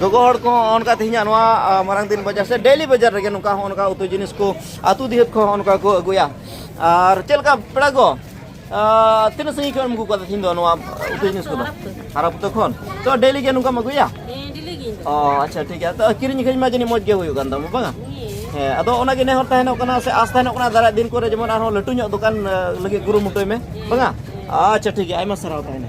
ᱜᱚᱜᱚ ᱦᱚᱲ ᱠᱚ ᱚᱱᱠᱟ ᱛᱮᱦᱮᱧᱟᱜ ᱱᱚᱣᱟ ᱢᱟᱨᱟᱝ ᱫᱤᱱ ᱵᱟᱡᱟᱨ ᱥᱮ ᱰᱮᱞᱤ ᱵᱟᱡᱟᱨ ᱨᱮᱜᱮ ᱱᱚᱝᱠᱟ ᱦᱚᱸ ᱚᱱᱠᱟ ᱩᱛᱩ ᱡᱤᱱᱤᱥ ᱠᱚ ᱟᱛᱩ ᱫᱤᱦᱟᱹᱛ ᱠᱚ ᱚᱱᱠᱟ ᱠᱚ ᱟᱹᱜᱩᱭᱟ ᱟᱨ ᱪᱮᱫ ᱞᱮᱠᱟ ᱯᱮᱲᱟ ᱠᱚ ᱛᱤᱱᱟᱹᱜ ᱥᱟᱺᱜᱤᱧ ᱠᱷᱚᱱ ᱟᱹᱜᱩ ᱠᱟᱫᱟ ᱛᱮᱦᱮᱧ ᱫᱚ ᱱᱚᱣᱟ ᱩᱛᱩ ᱡᱤᱱᱤᱥ ᱠᱚᱫᱚ ᱦᱟᱨᱟ ᱯᱩᱛᱟᱹ ᱠᱷᱚᱱ ᱛᱚ ᱰᱮᱞᱤ ᱜᱮ ᱱᱚᱝᱠᱟᱢ ᱟᱹᱜᱩᱭᱟ ᱚ ᱟᱪᱪᱷᱟ ᱴᱷᱤᱠ ᱜᱮᱭᱟ ᱛᱚ ᱠᱤᱨᱤᱧ ᱟᱹᱠᱷᱨᱤᱧ ᱢᱟ ᱡᱟᱹᱱᱤᱡ ᱢᱚᱡᱽ ᱜᱮ ᱦᱩᱭᱩᱜ ᱠᱟᱱ ᱛᱟᱢᱟ ᱵᱟᱝᱟ ᱦᱮᱸ ᱟᱫᱚ ᱚᱱᱟ ᱜᱮ ᱱᱮᱦᱚᱨ ᱛᱟᱦᱮᱱᱚᱜ ᱠᱟᱱᱟ ᱥᱮ ᱟᱥ ᱛᱟᱦᱮᱱᱚᱜ ᱠᱟᱱᱟ ᱫᱟᱨᱟᱭ ᱫᱤᱱ ᱠᱚᱨᱮ ᱡᱮᱢᱚᱱ ᱟᱨᱦᱚᱸ ᱞᱟᱹᱴᱩ ᱧᱚᱜ ᱫᱚᱠᱟᱱ ᱞᱟᱹᱜᱤᱫ ᱠᱩᱨᱩᱢᱩᱴᱩᱭ ᱢᱮ ᱵᱟᱝᱟ ᱟᱪᱪᱷᱟ ᱴᱷᱤᱠ ᱜᱮᱭᱟ ᱟᱭᱢᱟ ᱥᱟᱨᱦᱟᱣ ᱛᱟᱦᱮᱱᱟ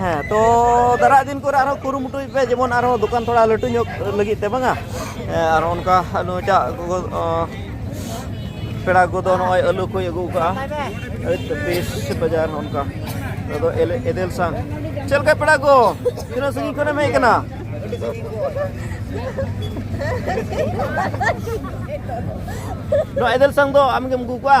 ᱦᱮᱸ ᱛᱚ ᱫᱟᱨᱟᱭ ᱫᱤᱱ ᱠᱚᱨᱮ ᱟᱨᱦᱚᱸ ᱠᱩᱨᱩᱢᱩᱴᱩᱭ ᱯᱮ ᱡᱮᱢᱚᱱ ᱟᱨᱦᱚᱸ ᱫᱚᱠᱟᱱ ᱛᱷᱚᱲᱟ ᱞᱟᱹᱴᱩ ᱧᱚᱜ ᱞᱟᱹᱜᱤᱫ ᱛᱮ ᱵᱟᱝᱟ ᱟᱨ ᱚᱱᱠᱟ ᱱᱩᱭᱴᱟᱜ ᱜᱚᱜᱚ ᱯᱮᱲᱟ ᱠᱚᱫᱚ ᱱᱚᱜᱼᱚᱭ ᱟᱹᱞᱩ ᱠᱚᱭ ᱟᱹᱜᱩ ᱠᱟᱜᱼᱟ ᱵᱮᱥ ᱵᱟᱡᱟᱨ ᱚᱱᱠᱟ ᱟᱫᱚ ᱮᱫᱮᱞ ᱥᱟᱝ ᱪᱮᱫ ᱞᱮᱠᱟ ᱯᱮᱲᱟ ᱠᱚ ᱛᱤᱱᱟᱹᱜ ᱥᱟᱺᱜᱤᱧ ᱠᱷᱚᱱᱮᱢ ᱦᱮᱡ ᱠᱟᱱᱟ ᱱᱚᱣᱟ ᱮᱫᱮᱞ ᱥᱟᱝ ᱫᱚ ᱟᱢᱜᱮᱢ ᱟᱹᱜᱩ ᱠᱚᱣᱟ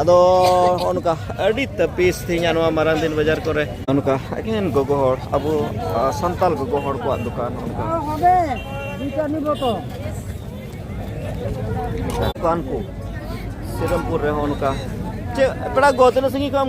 ᱟᱫᱚ ᱱᱚᱜᱼᱚ ᱱᱚᱝᱠᱟ ᱟᱹᱰᱤ ᱛᱟᱹᱯᱤᱥ ᱛᱮᱦᱮᱧᱟᱜ ᱱᱚᱣᱟ ᱢᱟᱨᱟᱝ ᱫᱤᱱ ᱵᱟᱡᱟᱨ ᱠᱚᱨᱮ ᱱᱚᱝᱠᱟ ᱮᱠᱮᱱ ᱜᱚᱜᱚ ᱦᱚᱲ ᱟᱵᱚ ᱥᱟᱱᱛᱟᱞ ᱜᱚᱜᱚ ᱦᱚᱲ ᱠᱚᱣᱟᱜ ᱫᱚᱠᱟᱱ ᱱᱚᱝᱠᱟ ᱫᱚᱠᱟᱱ ᱠᱚ ᱥᱤᱨᱚᱢᱯᱩᱨ ᱨᱮᱦᱚᱸ ᱱᱚᱝᱠᱟ ᱪᱮᱫ ᱯᱮᱲᱟ ᱜᱚ ᱛᱤᱱᱟᱹᱜ ᱥᱟᱺᱜᱤᱧ ᱠᱷᱚᱱ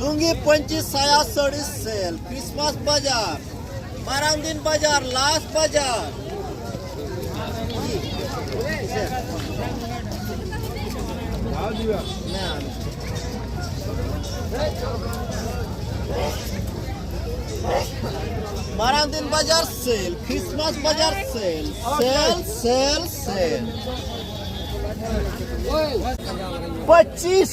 ᱞᱩᱝᱜᱤ ᱯᱟᱹᱧᱪᱤ ᱥᱟᱭᱟ ᱥᱟᱹᱲᱤ ᱥᱮᱞ ᱠᱨᱤᱥᱢᱟᱥ ᱵᱟᱡᱟᱨ ᱢᱟᱨᱟᱝ ᱫᱤᱱ ᱵᱟᱡᱟᱨ ᱞᱟᱥ ᱵᱟᱡᱟᱨ ᱢᱟᱨᱟᱝ ᱫᱤᱱ ᱵᱟᱡᱟᱨ ᱥᱮᱞ ᱠᱨᱤᱥᱢᱟᱥ ᱵᱟᱡᱟᱨ ᱥᱮᱞ ᱥᱮᱞ ᱥᱮᱞ ᱥᱮᱞ ᱯᱚᱸᱪᱤᱥ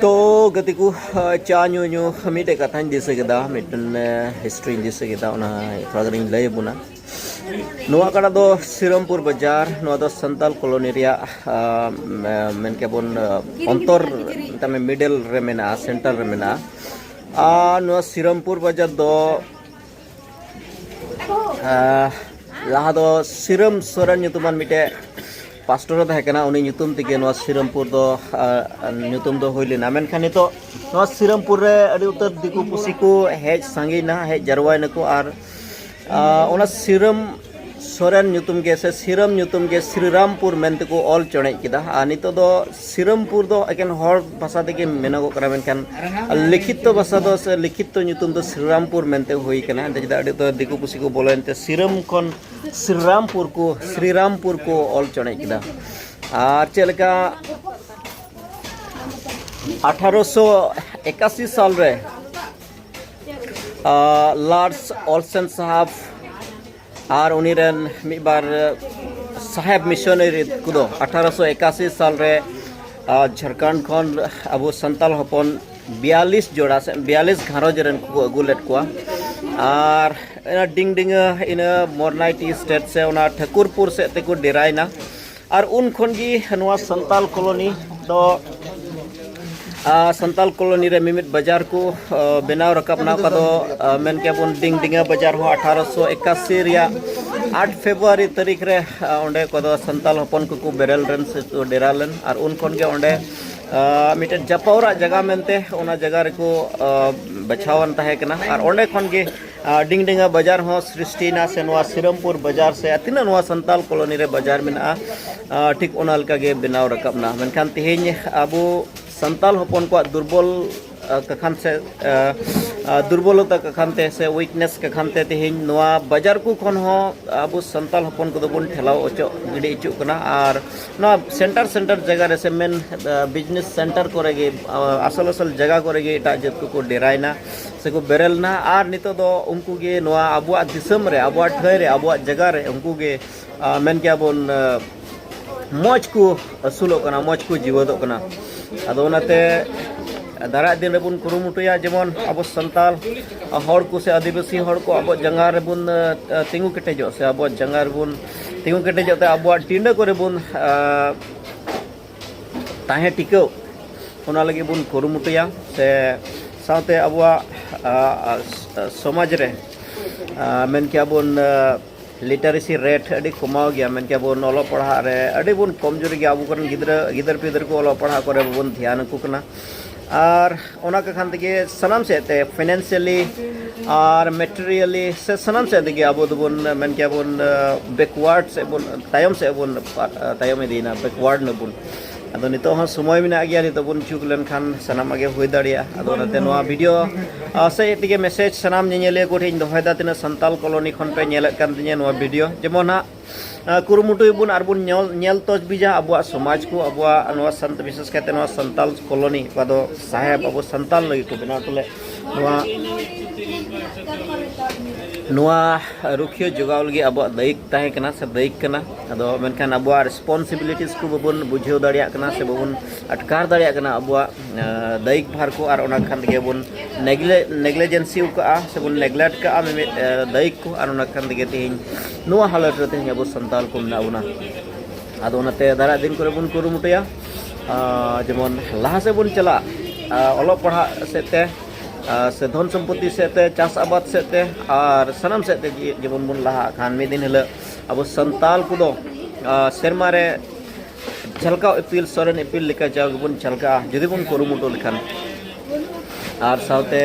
ᱛᱚ ᱜᱟᱛᱮ ᱠᱚ ᱪᱟ ᱧᱩ ᱧᱩ ᱢᱤᱫᱴᱮᱡ ᱠᱟᱛᱷᱟᱧ ᱫᱤᱥᱟᱹ ᱠᱮᱫᱟ ᱢᱤᱫᱴᱮᱱ ᱦᱤᱥᱴᱨᱤᱧ ᱫᱤᱥᱟᱹ ᱠᱮᱫᱟ ᱚᱱᱟ ᱛᱷᱚᱲᱟ ᱜᱟᱱᱤᱧ ᱞᱟᱹᱭ ᱟᱵᱚᱱᱟ ᱱᱚᱣᱟ ᱠᱟᱰᱟ ᱫᱚ ᱥᱤᱨᱚᱢᱯᱩᱨ ᱵᱟᱡᱟᱨ ᱱᱚᱣᱟ ᱫᱚ ᱥᱟᱱᱛᱟᱞ ᱠᱚᱞᱚᱱᱤ ᱨᱮᱭᱟᱜ ᱢᱮᱱ ᱠᱮᱵᱚᱱ ᱚᱱᱛᱚᱨ ᱛᱟᱢᱮ ᱢᱤᱰᱮᱞ ᱨᱮ ᱢᱮᱱᱟᱜᱼᱟ ᱥᱮᱱᱴᱟᱨ ᱨᱮ ᱢᱮᱱᱟᱜᱼᱟ ᱟᱨ ᱱᱚᱣᱟ ᱥᱤᱨᱚᱢᱯᱩᱨ ᱵᱟᱡᱟᱨ ᱫᱚ ᱞᱟᱦᱟ ᱫᱚ ᱥᱤᱨᱚᱢ ᱥᱚᱨᱮᱱ ᱧᱩᱛᱩᱢᱟᱱ ᱢᱤᱫᱴᱮᱡ ᱯᱟᱥᱴᱚᱨ ᱛᱟᱦᱮᱸ ᱠᱟᱱᱟ ᱩᱱᱤ ᱧᱩᱛᱩᱢ ᱛᱮᱜᱮ ᱱᱚᱣᱟ ᱥᱤᱨᱚᱢᱯᱩᱨ ᱫᱚ ᱧᱩᱛᱩᱢ ᱫᱚ ᱦᱩᱭ ᱞᱮᱱᱟ ᱢᱮᱱᱠᱷᱟᱱ ᱱᱤᱛᱚᱜ ᱱᱚᱣᱟ ᱥᱤᱨᱚᱢᱯᱩᱨ ᱨᱮ ᱟᱹᱰᱤ ᱩᱛᱟᱹᱨ ᱫᱤᱠᱩ ᱯᱩᱥᱤ ᱠᱚ ᱦᱮᱡ ᱥᱟᱸᱜᱮᱭᱮᱱᱟ ᱦᱮᱡ ᱡᱟᱨᱣᱟᱭᱮᱱᱟᱠᱚ ᱟᱨ ᱚᱱᱟ ᱥᱤᱨᱟᱹᱢ ᱥᱚᱨᱮᱱ ᱧᱩᱛᱩᱢ ᱜᱮ ᱥᱮ ᱥᱤᱨᱟᱹᱢ ᱧᱩᱛᱩᱢ ᱜᱮ ᱥᱨᱤᱨᱟᱢᱯᱩᱨ ᱢᱮᱱᱛᱮ ᱠᱚ ᱚᱞ ᱪᱚᱬᱮᱡ ᱠᱮᱫᱟ ᱟᱨ ᱱᱤᱛᱚᱜ ᱫᱚ ᱥᱤᱨᱟᱹᱢᱯᱩᱨ ᱫᱚ ᱮᱠᱮᱱ ᱦᱚᱲ ᱵᱷᱟᱥᱟ ᱛᱮᱜᱮ ᱢᱮᱱᱚᱜᱚᱜ ᱠᱟᱱᱟ ᱢᱮᱱᱠᱷᱟᱱ ᱞᱤᱠᱷᱤᱛᱚ ᱵᱷᱟᱥᱟ ᱫᱚ ᱥᱮ ᱞᱤᱠᱷᱤᱛᱚ ᱧᱩᱛᱩᱢ ᱫᱚ ᱥᱨᱤᱨᱟᱢᱯᱩᱨ ᱢᱮᱱᱛᱮ ᱦᱩᱭ ᱠᱟᱱᱟ ᱮᱱᱛᱮ ᱪᱮᱫᱟᱜ ᱟᱹᱰᱤ ᱩᱛᱟᱹᱨ ᱫᱤᱠᱩ ᱯᱩᱥᱤ ᱠᱚ ᱵᱚᱞᱚᱭᱮᱱ ᱛᱮ ᱥᱤᱨᱟᱹᱢ ᱠᱷᱚᱱ ᱥᱨᱤᱨᱟᱢᱯᱩᱨ ᱠᱚ ᱥᱨᱤᱨᱟᱢᱯᱩᱨ ᱠᱚ ᱚᱞ ᱪᱚᱬᱮᱡ ᱠᱮᱫᱟ ᱟᱨ ᱪᱮᱫ ᱞᱮᱠᱟ ᱟᱴᱷᱟᱨᱚᱥᱚ ᱮᱠᱟᱥᱤ ᱥᱟᱞ ᱨᱮ ᱞᱟᱨᱰᱥ ᱚᱞᱥᱮᱱ ᱥᱟᱦᱟᱵ ᱟᱨ ᱩᱱᱤ ᱨᱮᱱ ᱢᱤᱫ ᱵᱟᱨ ᱥᱟᱦᱮᱵ ᱢᱤᱥᱚᱱᱟᱨᱤ ᱠᱚᱫᱚ ᱟᱴᱷᱟᱨᱚᱥᱚ ᱮᱠᱟᱥᱤ ᱥᱟᱞ ᱨᱮ ᱡᱷᱟᱲᱠᱷᱚᱸᱰ ᱠᱷᱚᱱ ᱟᱵᱚ ᱥᱟᱱᱛᱟᱲ ᱦᱚᱯᱚᱱ ᱵᱤᱭᱟᱞᱤᱥ ᱡᱚᱲᱟ ᱥᱮ ᱵᱤᱭᱟᱞᱤᱥ ᱜᱷᱟᱨᱚᱸᱡᱽ ᱨᱮᱱ ᱠᱚ ᱟᱹᱜᱩ ᱞᱮᱫ ᱠᱚᱣᱟ ᱟᱨ ᱤᱱᱟᱹ ᱰᱤᱝ ᱰᱤᱝᱟᱹ ᱤᱱᱟᱹ ᱢᱚᱨᱱᱟᱭᱴᱤ ᱥᱴᱮᱴ ᱥᱮ ᱚᱱᱟ ᱴᱷᱟᱹᱠᱩᱨᱯᱩᱨ ᱥᱮᱫ ᱛᱮᱠᱚ ᱰᱮᱨᱟᱭᱮᱱᱟ ᱟᱨ ᱩᱱ ᱠᱷᱚᱱ ᱜᱮ ᱱᱚᱣᱟ ᱥᱟᱱᱛᱟᱞ ᱠᱚᱞᱚᱱᱤ ᱫᱚ ᱥᱟᱱᱛᱟᱞ ᱠᱚᱞᱚᱱᱤ ᱨᱮ ᱢᱤᱢᱤᱫ ᱵᱟᱡᱟᱨ ᱠᱚ ᱵᱮᱱᱟᱣ ᱨᱟᱠᱟᱵ ᱮᱱᱟ ᱚᱠᱟ ᱫᱚ ᱢᱮᱱ ᱠᱮᱭᱟ ᱵᱚᱱ ᱰᱤᱝ ᱰᱤᱝᱟ ᱵᱟᱡᱟᱨ ᱦᱚᱸ ᱟᱴᱷᱟᱨᱚᱥᱚ ᱮᱠᱟᱥᱤ ᱨᱮᱭᱟᱜ ᱟᱴ ᱯᱷᱮᱵᱽᱨᱩᱣᱟᱨᱤ ᱛᱟᱹᱨᱤᱠᱷ ᱨᱮ ᱚᱸᱰᱮ ᱠᱚ ᱫᱚ ᱥᱟᱱᱛᱟᱞ ᱦᱚᱯᱚᱱ ᱠᱚᱠᱚ ᱵᱮᱨᱮᱞ ᱨᱮᱱ ᱥᱮ ᱠᱚ ᱰᱮᱨᱟ ᱞᱮᱱ ᱟᱨ ᱩᱱ ᱠᱷᱚᱱ ᱜᱮ ᱚᱸᱰᱮ ᱢᱤᱫᱴᱮᱱ ᱡᱟᱯᱟᱣᱨᱟᱜ ᱡᱟᱭᱜᱟ ᱢᱮᱱᱛᱮ ᱚᱱᱟ ᱡᱟᱭᱜᱟ ᱨᱮᱠᱚ ᱵᱟᱪᱷᱟᱣᱟᱱ ᱛᱟᱦᱮᱸ ᱠᱟᱱᱟ ᱟᱨ ᱚᱸᱰᱮ ᱠᱷᱚᱱ ᱜᱮ ᱰᱤᱝᱰᱮᱝᱜᱟ ᱵᱟᱡᱟᱨ ᱦᱚᱸ ᱥᱨᱤᱥᱴᱤᱭᱮᱱᱟ ᱥᱮ ᱱᱚᱣᱟ ᱥᱤᱨᱟᱢᱯᱩᱨ ᱵᱟᱡᱟᱨ ᱥᱮ ᱛᱤᱱᱟᱹᱜ ᱱᱚᱣᱟ ᱥᱟᱱᱛᱟᱞ ᱠᱚᱞᱚᱱᱤ ᱨᱮ ᱵᱟᱡᱟᱨ ᱢᱮᱱᱟᱜᱼᱟ ᱴᱷᱤᱠ ᱚᱱᱟ ᱞᱮᱠᱟᱜᱮ ᱵᱮᱱᱟᱣ ᱨᱟᱠᱟᱵ ᱮᱱᱟ ᱢᱮᱱᱠᱷᱟᱱ ᱛᱮᱦᱮᱧ ᱟᱵᱚ ᱥᱟᱱᱛᱟᱞ ᱦᱚᱯᱚᱱ ᱠᱚᱣᱟᱜ ᱫᱩᱨᱵᱚᱞ ᱠᱟᱠᱷᱟᱱ ᱥᱮ ᱫᱩᱨᱵᱚᱞᱚᱛᱟ ᱠᱟᱠᱷᱟᱱ ᱛᱮ ᱥᱮ ᱩᱭᱤᱠᱱᱮᱥ ᱠᱟᱠᱷᱟᱱ ᱛᱮ ᱛᱮᱦᱮᱧ ᱱᱚᱣᱟ ᱵᱟᱡᱟᱨ ᱠᱚ ᱠᱷᱚᱱ ᱦᱚᱸ ᱟᱵᱚ ᱥᱟᱱᱛᱟᱞ ᱦᱚᱯᱚᱱ ᱠᱚᱫᱚ ᱵᱚᱱ ᱴᱷᱮᱞᱟᱣ ᱚᱪᱚᱜ ᱜᱤᱰᱤ ᱚᱪᱚᱜ ᱠᱟᱱᱟ ᱟᱨ ᱱᱚᱣᱟ ᱥᱮᱱᱴᱟᱨ ᱥᱮᱱᱴᱟᱨ ᱡᱟᱭᱜᱟ ᱨᱮ ᱥᱮ ᱢᱮᱱ ᱵᱤᱡᱽᱱᱮᱥ ᱥᱮᱱᱴᱟᱨ ᱠᱚᱨᱮ ᱜᱮ ᱟᱥᱚᱞ ᱟᱥᱚᱞ ᱡᱟᱭᱜᱟ ᱠᱚᱨᱮ ᱜᱮ ᱮᱴᱟᱜ ᱡᱟᱹᱛ ᱠᱚᱠᱚ ᱰᱮᱨᱟᱭᱮᱱᱟ ᱥᱮᱠᱚ ᱵᱮᱨᱮᱞ ᱮᱱᱟ ᱟᱨ ᱱᱤᱛᱚᱜ ᱫᱚ ᱩᱱᱠᱩ ᱜᱮ ᱱᱚᱣᱟ ᱟᱵᱚᱣᱟᱜ ᱫᱤᱥᱚᱢ ᱨᱮ ᱟᱵᱚᱣᱟᱜ ᱴᱷᱟᱹᱭ ᱨᱮ ᱟᱵᱚᱣᱟᱜ ᱡᱟᱭᱜᱟ ᱨᱮ ᱩᱱᱠᱩ ᱜᱮ ᱢᱮᱱ ᱠᱮᱭᱟ ᱵᱚᱱ ᱢᱚᱡᱽ ᱠᱚ ᱟᱹᱥᱩᱞᱚᱜ ᱠᱟᱱᱟ ᱢᱚᱡᱽ ᱠᱚ ᱡᱤᱣᱮᱫᱚᱜ ᱠᱟᱱᱟ ᱟᱫᱚ ᱚᱱᱟᱛᱮ ᱫᱟᱨᱟᱭ ᱫᱤᱱ ᱨᱮᱵᱚᱱ ᱠᱩᱨᱩᱢᱩᱴᱩᱭᱟ ᱡᱮᱢᱚᱱ ᱟᱵᱚ ᱥᱟᱱᱛᱟᱲ ᱦᱚᱲ ᱠᱚ ᱥᱮ ᱟᱹᱫᱤᱵᱟᱹᱥᱤ ᱦᱚᱲ ᱠᱚ ᱟᱵᱚᱣᱟᱜ ᱡᱟᱸᱜᱟ ᱨᱮᱵᱚᱱ ᱛᱤᱸᱜᱩ ᱠᱮᱴᱮᱡᱚᱜ ᱥᱮ ᱟᱵᱚᱣᱟᱜ ᱡᱟᱸᱜᱟ ᱨᱮᱵᱚᱱ ᱛᱤᱸᱜᱩ ᱠᱮᱴᱮᱡᱚᱜ ᱛᱮ ᱟᱵᱚᱣᱟᱜ ᱴᱤᱸᱰᱟᱹ ᱠᱚᱨᱮ ᱵᱚᱱ ᱛᱟᱦᱮᱸ ᱴᱤᱠᱟᱹᱣ ᱚᱱᱟ ᱞᱟᱹᱜᱤᱫ ᱵᱚᱱ ᱠᱩᱨᱩᱢᱩᱴᱩᱭᱟ ᱥᱮ ᱥᱟᱶᱛᱮ ᱟᱵᱚᱣᱟᱜ ᱥᱚᱢᱟᱡᱽ ᱨᱮ ᱢᱮᱱ ᱠᱮᱭᱟ ᱵᱚᱱ ᱞᱤᱴᱟᱨᱮᱥᱤ ᱨᱮᱴ ᱟᱹᱰᱤ ᱠᱚᱢᱟᱣ ᱜᱮᱭᱟ ᱢᱮᱱ ᱠᱮᱭᱟ ᱵᱚᱱ ᱚᱞᱚᱜ ᱯᱟᱲᱦᱟᱜ ᱨᱮ ᱟᱹᱰᱤ ᱵᱚᱱ ᱠᱚᱢᱡᱩᱨᱤ ᱜᱮᱭᱟ ᱟᱵᱚ ᱠᱚᱨᱮᱱ ᱜᱤᱫᱽᱨᱟᱹ ᱜᱤᱫᱟᱹᱨ ᱯᱤᱫᱟᱹᱨ ᱠᱚ ᱚᱞᱚᱜ ᱯᱟᱲᱦᱟᱜ ᱠᱚᱨᱮ ᱵᱟᱵᱚᱱ ᱫᱷᱮᱭᱟᱱ ᱟᱠᱚ ᱠᱟᱱᱟ ᱟᱨ ᱚᱱᱟ ᱠᱚ ᱠᱷᱟᱱ ᱛᱮᱜᱮ ᱥᱟᱱᱟᱢ ᱥᱮᱫ ᱛᱮ ᱯᱷᱤᱱᱟᱱᱥᱤᱭᱟᱞᱤ ᱟᱨ ᱢᱮᱴᱮᱨᱤᱭᱟᱞᱤ ᱥᱮ ᱥᱟᱱᱟᱢ ᱥᱮᱫ ᱛᱮᱜᱮ ᱟᱵᱚ ᱫᱚᱵᱚᱱ ᱢᱮᱱ ᱠᱮᱭᱟ ᱵᱚᱱ ᱵᱮᱠᱣᱟᱨᱰ ᱥᱮᱫ ᱵᱚᱱ ᱛᱟᱭᱚᱢ ᱥᱮᱫ ᱵᱚᱱ ᱛᱟᱭᱚᱢ ᱤᱫᱤᱭᱮᱱᱟ ᱵᱮᱠᱣᱟᱨᱰ ᱱᱟᱵᱚᱱ ᱟᱫᱚ ᱱᱤᱛᱚᱜ ᱦᱚᱸ ᱥᱚᱢᱚᱭ ᱢᱮᱱᱟᱜ ᱜᱮᱭᱟ ᱱᱤᱛᱚᱜ ᱵᱚᱱ ᱡᱩᱜᱽ ᱞᱮᱱᱠᱷᱟᱱ ᱥᱟᱱᱟᱢᱟᱜ ᱜᱮ ᱦᱩᱭ ᱫᱟᱲᱮᱭᱟᱜᱼᱟ ᱟᱫᱚ ᱚᱱᱟᱛᱮ ᱱᱚᱣᱟ ᱵᱷᱤᱰᱤᱭᱳ ᱥᱮ ᱛᱮᱜᱮ ᱢᱮᱥᱮᱡᱽ ᱥᱟᱱᱟᱢ ᱧᱮᱧᱮᱞᱤᱭᱟᱹ ᱠᱚᱴᱷᱮᱱ ᱤᱧ ᱫᱚᱦᱚᱭᱮᱫᱟ ᱛᱤᱱᱟᱹᱜ ᱥᱟᱱᱛᱟᱞ ᱠᱚᱞᱳᱱᱤ ᱠᱷᱚᱱ ᱯᱮ ᱧᱮᱞᱮᱫ ᱠᱟᱱ ᱛᱤᱧᱟᱹ ᱱᱚᱣᱟ ᱵᱷᱤᱰᱤᱭᱳ ᱡᱮᱢᱚᱱ ᱦᱟᱸᱜ ᱠᱩᱨᱩᱢᱩᱴᱩᱭ ᱵᱚᱱ ᱟᱨ ᱵᱚᱱ ᱧᱮᱞ ᱧᱮᱞ ᱛᱚᱡᱽᱵᱤᱡᱟ ᱟᱵᱚᱣᱟᱜ ᱥᱚᱢᱟᱡᱽ ᱠᱚ ᱟᱵᱚᱣᱟᱜ ᱱᱚᱣᱟ ᱥᱟᱱᱛ ᱵᱤᱥᱮᱥ ᱠᱟᱭᱛᱮ ᱱᱚᱣᱟ ᱥᱟᱱᱛᱟᱞ ᱠᱚᱞᱚᱱᱤ ᱚᱠᱟ ᱫᱚ ᱥᱟᱦᱮᱵ ᱟᱵᱚ ᱥᱟᱱᱛᱟᱞ ᱞᱟᱹᱜᱤᱫ ᱠᱚ ᱵᱮᱱᱟᱣ ᱦᱚᱴᱚ ᱞᱮᱫ ᱱᱚᱣᱟ ᱱᱚᱣᱟ ᱨᱩᱠᱷᱤᱭᱟᱹ ᱡᱚᱜᱟᱣ ᱞᱟᱹᱜᱤᱫ ᱟᱵᱚᱣᱟᱜ ᱫᱟᱭᱤᱠ ᱛᱟᱦᱮᱸ ᱠᱟᱱᱟ ᱥᱮ ᱫᱟᱭᱤᱠ ᱠᱟᱱᱟ ᱟᱫᱚ ᱢᱮᱱᱠᱷᱟᱱ ᱟᱵᱚᱣᱟᱜ ᱨᱮᱥᱯᱚᱱᱥᱤᱵᱤᱞᱤᱴᱤᱥ ᱠᱚ ᱵᱟᱵᱚᱱ ᱵᱩᱡᱷᱟᱹᱣ ᱫᱟᱲᱮᱭᱟᱜ ᱠᱟᱱᱟ ᱥᱮ ᱵᱟᱵᱚᱱ ᱟᱴᱠᱟᱨ ᱫᱟᱲᱮᱭᱟᱜ ᱠᱟᱱᱟ ᱟᱵᱚᱣᱟᱜ ᱫᱟᱭᱤᱠ ᱵᱷᱟᱨ ᱠᱚ ᱟᱨ ᱚᱱᱟ ᱠᱷᱟᱱ ᱛᱮᱜᱮ ᱵᱚᱱ ᱱᱮᱜᱞᱮᱡᱮᱱᱥᱤ ᱠᱟᱜᱼᱟ ᱥᱮ ᱵᱚᱱ ᱱᱮᱜᱞᱮᱴ ᱠᱟᱜᱼᱟ ᱢᱤᱢᱤᱫ ᱫᱟᱭᱤᱠ ᱠᱚ ᱟᱨ ᱚᱱᱟ ᱠᱷᱟᱱ ᱛᱮᱜᱮ ᱛᱮᱦᱮᱧ ᱱᱚᱣᱟ ᱦᱟᱞᱚᱛ ᱨᱮ ᱛᱮᱦᱮᱧ ᱟᱵᱚ ᱥᱟᱱᱛᱟᱲ ᱠᱚ ᱢᱮᱱᱟᱜ ᱵᱚᱱᱟ ᱟᱫᱚ ᱚᱱᱟᱛᱮ ᱫᱟᱨᱟᱭ ᱫᱤᱱ ᱠᱚᱨᱮ ᱵᱚᱱ ᱠᱩᱨᱩᱢᱩᱴᱩᱭᱟ ᱡᱮᱢᱚᱱ ᱞᱟᱦᱟ ᱥᱮᱫ ᱵᱚᱱ ᱪᱟᱞᱟᱜ ᱚᱞᱚᱜ ᱯᱟᱲᱦᱟᱜ ᱥᱮᱫ ᱛᱮ ᱥᱮ ᱫᱷᱚᱱ ᱥᱚᱢᱯᱚᱛᱛᱤ ᱥᱮᱫ ᱛᱮ ᱪᱟᱥ ᱟᱵᱟᱫ ᱥᱮᱫ ᱛᱮ ᱟᱨ ᱥᱟᱱᱟᱢ ᱥᱮᱫ ᱛᱮ ᱡᱮᱢᱚᱱ ᱵᱚᱱ ᱞᱟᱦᱟᱜ ᱠᱷᱟᱱ ᱢᱤᱫ ᱫᱤᱱ ᱦᱤᱞᱳᱜ ᱟᱵᱚ ᱥᱟᱱᱛᱟᱲ ᱠᱚᱫᱚ ᱥᱮᱨᱢᱟ ᱨᱮ ᱡᱷᱟᱞᱠᱟᱣ ᱤᱯᱤᱞ ᱥᱚᱨᱮᱱ ᱤᱯᱤᱞ ᱞᱮᱠᱟ ᱡᱟᱣ ᱜᱮᱵᱚᱱ ᱡᱷᱟᱞᱠᱟᱜᱼᱟ ᱡᱩᱫᱤ ᱵᱚᱱ ᱠᱩᱨᱩᱢᱩᱴᱩ ᱞᱮᱠᱷᱟᱱ ᱟᱨ ᱥᱟᱶᱛᱮ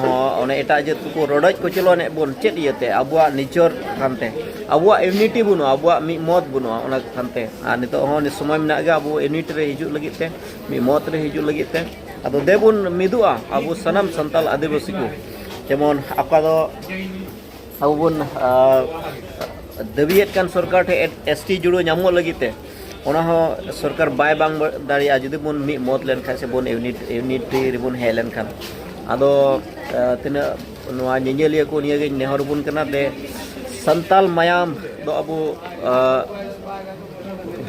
ᱦᱚᱸ ᱚᱱᱮ ᱮᱴᱟᱜ ᱡᱟᱹᱛ ᱠᱚᱠᱚ ᱨᱚᱰᱚᱡ ᱠᱚᱪᱞᱚᱱᱮᱫ ᱵᱚᱱ ᱪᱮᱫ ᱤᱭᱟᱹᱛᱮ ᱟᱵᱚᱣᱟᱜ ᱱᱤᱡᱚᱨ ᱠᱟᱱᱛᱮ ᱟᱵᱚᱣᱟᱜ ᱤᱭᱩᱱᱤᱴᱤ ᱵᱟᱹᱱᱩᱜᱼᱟ ᱟᱵᱚᱣᱟᱜ ᱢᱤᱫ ᱢᱚᱛ ᱵᱟᱹᱱᱩᱜᱼᱟ ᱚᱱᱟ ᱠᱟᱱᱛᱮ ᱟᱨ ᱱᱤᱛᱚᱜ ᱦᱚᱸ ᱥᱚᱢᱚᱭ ᱢᱮᱱᱟᱜ ᱜᱮᱭᱟ ᱟᱵᱚ ᱤᱭᱩᱱᱤᱴ ᱨᱮ ᱦᱤᱡᱩᱜ ᱞᱟᱹᱜᱤᱫ ᱛᱮ ᱢᱤᱫ ᱢᱚᱛ ᱨᱮ ᱦᱤᱡᱩᱜ ᱞᱟᱹᱜᱤᱫ ᱛᱮ ᱟᱫᱚ ᱫᱮᱵᱚᱱ ᱢᱤᱫᱚᱜᱼᱟ ᱟᱵᱚ ᱥᱟᱱᱟᱢ ᱥᱟᱱᱛᱟᱞ ᱟᱹᱫᱤᱵᱟᱹᱥᱤ ᱠᱚ ᱡᱮᱢᱚᱱ ᱚᱠᱟ ᱫᱚ ᱟᱵᱚ ᱵᱚᱱ ᱫᱟᱹᱵᱤᱭᱮᱫ ᱠᱟᱱ ᱥᱚᱨᱠᱟᱨ ᱴᱷᱮᱱ ᱮᱥ ᱴᱤ ᱡᱩᱲᱟᱹ ᱧᱟᱢᱚᱜ ᱞᱟᱹᱜᱤᱫ ᱛᱮ ᱚᱱᱟ ᱦᱚᱸ ᱥᱚᱨᱠᱟᱨ ᱵᱟᱭ ᱵᱟᱝ ᱫᱟᱲᱮᱭᱟᱜᱼᱟ ᱡᱩᱫᱤ ᱵᱚᱱ ᱢᱤᱫ ᱢᱚᱛ ᱞᱮᱱᱠᱷᱟᱱ ᱥᱮ ᱵᱚᱱ ᱤᱭᱩᱱᱤᱴ ᱤᱭᱩᱱᱤᱴᱨᱤ ᱨᱮᱵᱚᱱ ᱦᱮᱡ ᱞᱮᱱᱠᱷᱟᱱ ᱟᱫᱚ ᱛᱤᱱᱟᱹᱜ ᱱᱚᱣᱟ ᱧᱮᱧᱮᱞᱤᱭᱟᱹ ᱠᱚ ᱱᱤᱭᱟᱹᱜᱮ ᱱᱮᱦᱚᱨ ᱵᱚᱱ ᱠᱟᱱᱟ ᱡᱮ ᱥᱟᱱᱛᱟᱞ ᱢᱟᱭᱟᱢ ᱫᱚ ᱟᱵᱚ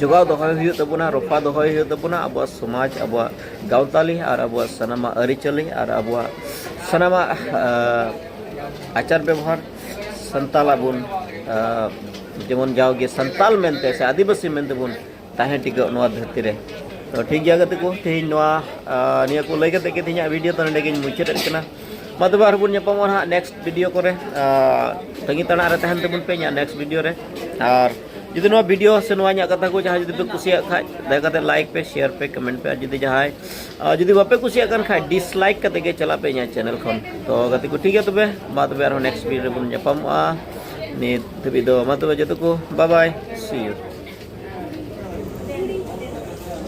ᱡᱚᱜᱟᱣ ᱫᱚᱦᱚᱭ ᱦᱩᱭᱩᱜ ᱛᱟᱵᱚᱱᱟ ᱨᱚᱯᱷᱟ ᱫᱚᱦᱚᱭ ᱦᱩᱭᱩᱜ ᱛᱟᱵᱚᱱᱟ ᱟᱵᱚᱣᱟᱜ ᱥᱚᱢᱟᱡᱽ ᱟᱵᱚᱣᱟᱜ ᱜᱟᱶᱛᱟᱞᱤ ᱟᱨ ᱟᱵᱚᱣᱟᱜ ᱥᱟᱱᱟᱢᱟᱜ ᱟᱹᱨᱤᱪᱟᱹᱞᱤ ᱟᱨ ᱟᱵᱚᱣᱟᱜ ᱥᱟᱱᱟᱢᱟᱜ ᱟᱪᱟᱨ ᱵᱮᱵᱚᱦᱟᱨ ᱥᱟᱱᱛᱟᱞ ᱟᱵᱚᱱ ᱡᱮᱢᱚᱱ ᱡᱟᱣᱜᱮ ᱥᱟᱱᱛᱟᱞ ᱢᱮᱱᱛᱮ ᱥᱮ ᱟᱹᱫᱤᱵᱟᱹᱥᱤ ᱢᱮᱱᱛᱮ ᱵᱚᱱ ᱛᱟᱦᱮᱸ ᱴᱤᱠᱟᱹᱜ ᱱᱚᱣᱟ ᱫᱷᱟᱹᱨᱛᱤ ᱨᱮ ᱛᱚ ᱴᱷᱤᱠ ᱜᱮᱭᱟ ᱜᱟᱛᱮ ᱠᱚ ᱛᱮᱦᱮᱧ ᱱᱚᱣᱟ ᱱᱤᱭᱟᱹ ᱠᱚ ᱞᱟᱹᱭ ᱠᱟᱛᱮ ᱜᱮ ᱛᱮᱦᱮᱧᱟᱜ ᱵᱷᱤᱰᱤᱭᱳ ᱫᱚ ᱱᱚᱰᱮ ᱜᱤᱧ ᱢᱩᱪᱟᱹᱫᱮᱫ ᱠᱟᱱᱟ ᱢᱟ ᱛᱚᱵᱮ ᱟᱨ ᱵᱚᱱ ᱧᱟᱯᱟᱢᱚᱜᱼᱟ ᱦᱟᱸᱜ ᱱᱮᱠᱥᱴ ᱵᱷᱤᱰᱤᱭᱳ ᱠᱚᱨᱮ ᱛᱟᱺᱜᱤ ᱛᱟᱲᱟᱜ ᱨᱮ ᱛᱟᱦᱮᱱ ᱛᱟᱵᱚᱱ ᱯᱮ ᱤᱧᱟᱹᱜ ᱱᱮᱠᱥᱴ ᱵᱷᱤᱰᱤᱭᱳ ᱨᱮ ᱟᱨ ᱡᱩᱫᱤ ᱱᱚᱣᱟ ᱵᱷᱤᱰᱤᱭᱳ ᱥᱮ ᱱᱚᱣᱟ ᱤᱧᱟᱹᱜ ᱠᱟᱛᱷᱟ ᱠᱚ ᱡᱟᱦᱟᱸᱭ ᱡᱩᱫᱤ ᱯᱮ ᱠᱩᱥᱤᱭᱟᱜ ᱠᱷᱟᱡ ᱫᱟᱭᱟ ᱠᱟᱛᱮ ᱞᱟᱭᱤᱠ ᱯᱮ ᱥᱮᱭᱟᱨ ᱯᱮ ᱠᱚᱢᱮᱱᱴ ᱯᱮ ᱟᱨ ᱡᱩᱫᱤ ᱡᱟᱦᱟᱸᱭ ᱡᱩᱫᱤ ᱵᱟᱯᱮ ᱠᱩᱥᱤᱭᱟᱜ ᱠᱟᱱ ᱠᱷᱟᱡ ᱰᱤᱥᱞᱟᱭᱤᱠ ᱠᱟᱛᱮ ᱜᱮ ᱪᱟᱞᱟᱜ ᱯᱮ ᱤᱧᱟᱹᱜ ᱪᱮᱱᱮᱞ ᱠᱷᱚᱱ ᱛᱚ ᱜᱟᱛᱮ ᱠᱚ ᱴᱷᱤᱠ ᱜᱮᱭᱟ ᱛᱚᱵᱮ ᱢᱟ ᱛᱚᱵᱮ ᱟᱨᱦᱚᱸ ᱱᱮᱠᱥᱴ ᱵᱷᱤᱰᱤᱭᱳ ᱨᱮᱵᱚᱱ ᱧᱟᱯᱟᱢᱚᱜᱼᱟ ᱱᱤᱛ ᱫᱷᱟᱹᱵᱤᱡ ᱫᱚ ᱢᱟ ᱛᱚᱵᱮ ᱡᱚᱛᱚ ᱠᱚ ᱵᱟᱭ ᱵᱟᱭ ᱥᱤ ᱤᱭᱩ